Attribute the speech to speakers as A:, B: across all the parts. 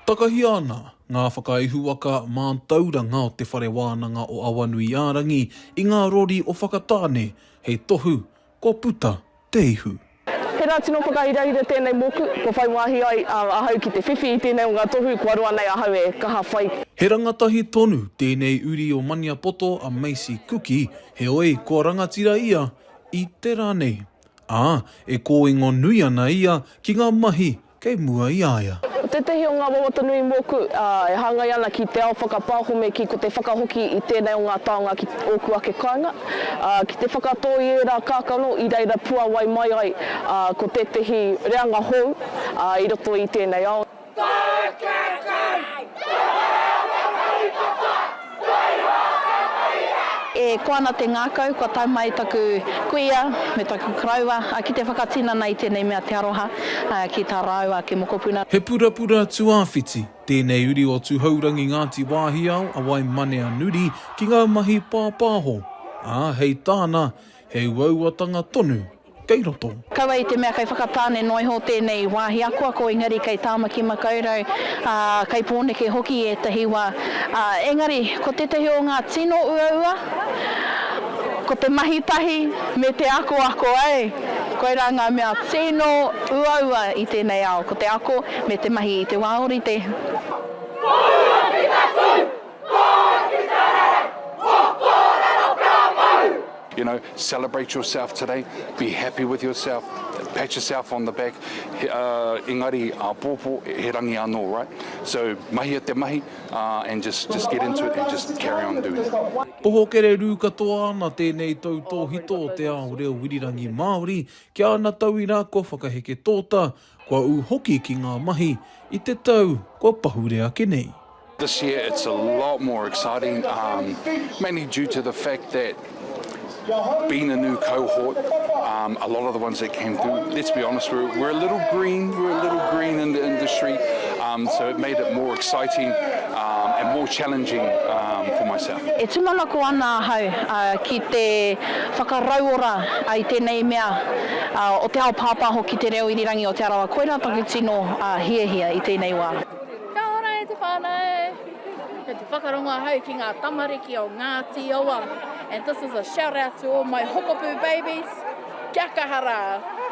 A: Takahia ana ngā whakaihuwaka mātauranga o Te Whare Wānanga o Awanuiārangi i ngā rori o Whakatāne hei tohu kua puta te ihu. Tērā tino
B: whakahirahira tēnei mōku, kua whai wāhi ai ahau ki te whiwhi i tēnei o ngā tohu kua roa nei ahau e kaha whai. He rangatahi
A: tonu tēnei uri o Maniapoto a Macy Kuki, heoi kua rangatira ia i te rā nei. Ā, e kōingo nui ana ia ki ngā mahi kei mua i a ia. Ko tētehi o ngā wawata
B: nui mōku e hāngai ana ki te ao whakapāhome ki ko te whakahoki i tēnei o ngā taonga ki ōku ake kāinga, ā, ki te whakatō i ērā kākano i reira puāwai mai ai ko tētehi reanga hou i roto i tēnei ao. Tō kēkei, tō reo whakaritenga!
C: E koa ana te ngākau, kua tae mai taku kuia me taku koroua ki te whakatinana i tēnei mea te aroha ki tā rāua ake mokopuna. He purapura
A: tuāwhiti tēnei uri o Tuhourangi Ngāti Wāhiao a Waimaneanuri ki ngā mahi pāpāho, ā, hei tāna, he uauatanga tonu kei roto. Kaua i te mea kei
C: Whakatāne noa iho tēnei wāhi akoako engari kei Tāmaki Makaurau, ā, kei Pōneke hoki ētahi wā. Ā, engari, ko tētahi o ngā tino uaua, ko te mahi tahi me te akoako, ē, koirā ngā mea tino uaua i tēnei ao, ko te ako me te mahi i te wā ōrite. Kōrero ki tatū, kōrero
D: ki te rere, mō kōrero ka mau. You know, celebrate yourself today, be happy with yourself, pat yourself on the back, uh, engari āpōpō, he rangi anō, right? So, mahia te mahi, uh, and just, just get into it and just carry on doing it. Pohokere rū
A: katoa ana tēnei tautōhito o te ao reo irirangi Māori ki ana tauira kua whakaheke tōta, Kua ū hoki ki ngā mahi i te tau kua pahure ake nei. This year it's a
D: lot more exciting um mainly due to the fact that being a new cohort um a lot of the ones that came through let's be honest we're we're a little green we're a little green in the industry um so it made it more exciting um and more challenging um for myself. E tūmanako ana
C: ahau ki te whakarauora i tēnei mea. o te ao pāpāho ki te reo irirangi o Te Arawa koirā taku tino hiahia i tēnei wā. Kia ora e
E: te whanau! Kei te whakarongo ahau ki ngā tamariki o Ngāti Awa and this is a shout out to all my hokopū babies, kia kaha rā!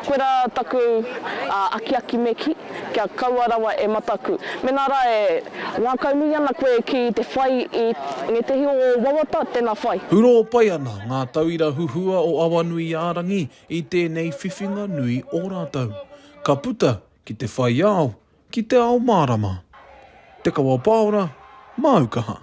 E: Koirā taku
B: akiaki me kī. Kia kaua rawa e mataku. Mena ra e ngakau nui ana koe ki te whai i ngētehi o o wawata, tena whai. Hurō pai ana
A: ngā tauira huhua o Awanuiārangi i tēnei whiwhinga nui o rātou. Ka puta ki te whai ao, ki te ao mārama. Te Kawapāora, Māu Kaha.